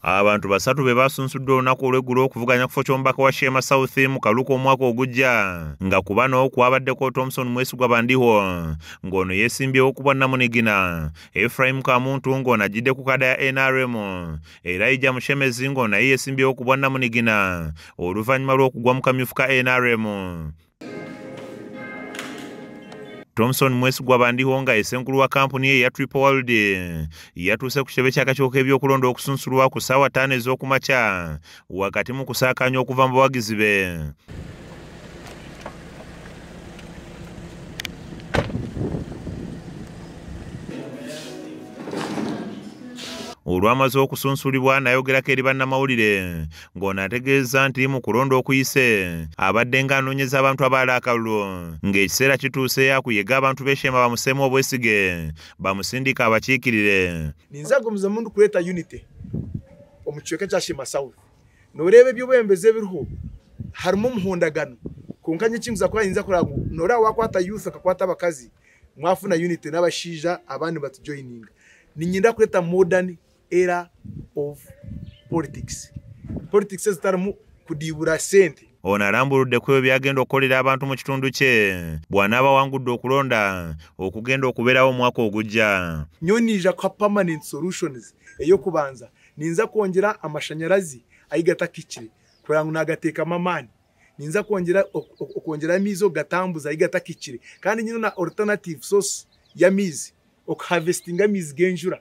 Abantu basatu be baasunsuddwa olunaku olw'eggulo okuvuganya kifo ky'omubaka wa Sheema South mu Kaluku omwaka ogujja nga ku bano kwabaddeko Thompson Mwesigwa Bandiho ng'ono yeesimbyewo ku bwannamunigina, Ephraim Kamuntu ng'ono ajjidde ku kada ya NRM, Elijah Mushemezi ng'ono naye yeesimbyewo ku bwannamunigina oluvannyuma lw'okugwa mu kamyufu ka NRM. Thomson Mwesigwa Bandihonga esenkulu wa kampuni ye ya Triple World yatuuse ku kitebe ky'akakiiko k'ebyokulonda okusunsulwa ku ssaawa ttaano ez'okumakya wakati mu kusaakaanya okuva mu bawagizi be olwamaze okusunsulibwa nayogerako eri bannamawulire ng'ono ategeeza nti mu kulonda okuyise abadde ng'anoonyeza abantu abaala akalulu ng'ekiseera kituuse yakuyega abantu b'eshema bamuseemu obwesige bamusindika abakiikirire ninza gumiza mundu kuleeta unity omu kicweka kya shema south nooreeba eby'obwembezi ebiriho harimu omuhondagano konka nyo ekinguza kuba ninza kuraba ngu nooreeba wakwata youth akakwata abakazi mwafuna unity n'abashaija abandi batujoyininga ninyenda kuleeta modern era of politics politics ezitalimu kudiibula sente ono alambuludde ku ebyo byagenda okukolera abantu mu kitundu kye bw'anaaba wangudde okulonda okugenda okubeerawo omwaka ogujja nyo ninja kwa permanent solutions eyokubanza ninza kwongera amashanyarazi ayigatakikire kugira ngo nagateekamu amaani ninza kwongera okwongera amiizi okugatambuza ayigatakikire kandi nyina na alternative source y'amiizi okuharvestinga amiizi g'enjura